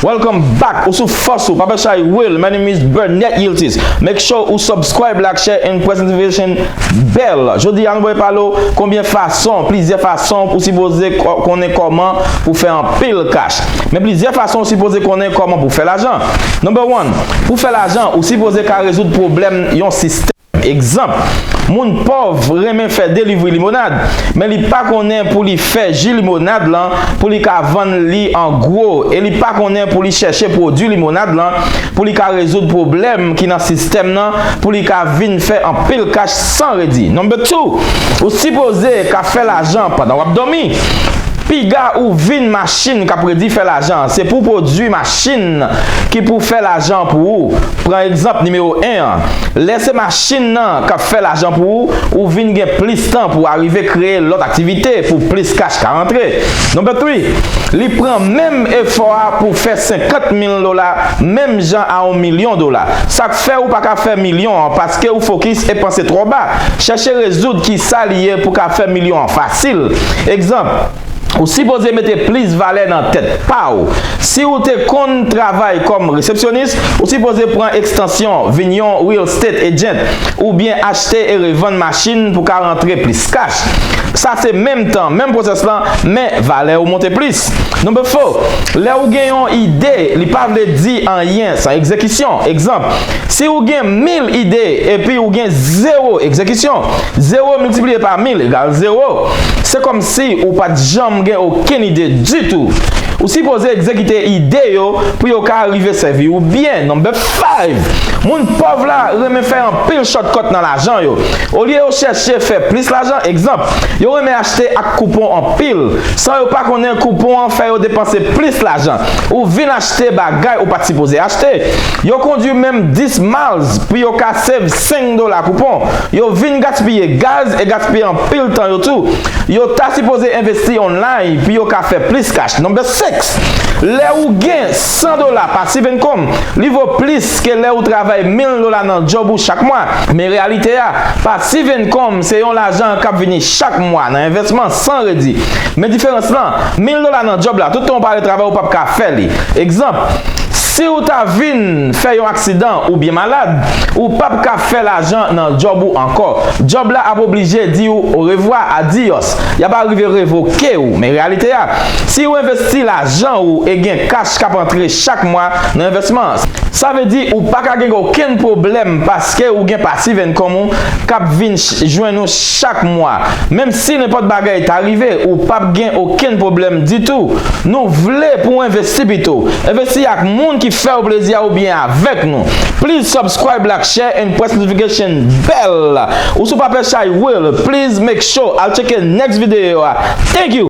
Welcome back ou sou fòs ou pa bè chay will my name is Burnett Yiltis make sure ou subscribe like share and press notification bell jodi an boy palo konbyen fason plizyè fason pou sipoze konnen kòman pou fè anpil ka. Men plizyè fason ou sipoze konnen kòman pou fè lajan. Number one, Pou fè lajan, ou sipoze ka rezoud pwoblèm yon sistèm. Egzanp, Moun pòv renmen fè delivri limonad, men li pa konnen pou li fè ji limonad lan pou li ka vann li an gwo e li pa konnen pou li chèche pwodui limonad lan pou li ka rezoud pwoblèm ki nan sistèm nan pou li ka vin fè anpil kach san redi. Number two, Ou sipoze ka fè lajan pandan w ap dòmi. Piga ou vin machin kap redi fè lajan an, se pou pwodui machin ki pou fè lajan an pou ou. Pran egzanp nimewo 1 an, lè se machin nan kap fè lajan pou ou, ou vin gen plis tan pou arive kreye lòt aktivite pou plis kach ka rantre. Non but wi, li pran menm efò a pou fè 50 mil dola menm jan a on milyon dola. fè ou pa ka fè milyon an paske ou fokis e panse twò ba. Chèche rezoud kisa li ye pou ka fè milyon an fasil. Egzanp, ou sipoze mete plis valè nan tèt pa ou. Si ou te konn travay kòm resepsyonis, ou sipoze pran ekstansyon, vin yon real estate agent, oubyen achte e revann machin pou ka rantre plis kach. Sa se menm tan, menm pwosès lan, men valè ou monte plis. Number 4, lè ou gen yon ide, li pa vle di anyen. San egzekisyon. Egzanp, Si ou gen mil ide epi ou gen zewo egzekisyon, zewo miltipliye pa mil egal zewo. Se kòmsi ou pa t janm gen okenn ide ditou. Ou sipoze egzekite ide yo pou yo ka rive sèvi ou byen. No. 5, Moun pòv la renmen fè anpil shòtkòt nan lajan yo. Olye yo chèche fè plis lajan, egzanp, yo renmen achte ak koupon anpil, san yo pa konnen koupon an fè yo depanse plis lajan. Ou vin. Se bagay ou pat sipoze achte. Yo kondwi menm 10 miles pou yo ka save 5 dola koupon. Yo vin gaspiye gaz e gaspiye anpil tan yo tou. Yo ta sipoze envesti online pou yo ka fè plis cash. Number 6, Lè ou gen 100 dola pasif income, li vo plis ke lè ou travay 1000 dola nan djòb ou chak mwa. Men reyalite a, pasif income se yon lajan kap vini chak mwa nan envèsman. San redi. Men diferans lan, mil dola nan djòb la, tout tan ou pa al travay ou pap ka fè li. Egzanp, si ou ta vin fè yon aksidan oubyen malad, ou pap ka fè lajan nan djòb ou ankò. Djòb la ap oblije di ou orevwa, adiyòs. Y ap arive revoke ou. Men reyalite a, si ou envesti lajan ou e gen kach k ap antre chak mwa nan envèsman an, sa vle di ou pa ka gen okenn pwoblèm paske ou gen pasiv enkom ou k ap vin jwenn ou chak mwa menm si nenpòt bagay ta rive ou pap gen okenn pwoblèm ditou nou vle pou w envesti pito envesti ak moun ki fèw plezi a oubyen avèk nou please subscribe lak share and press notification bell ou sou pape chay will please make sure al tcheke next video a thank you.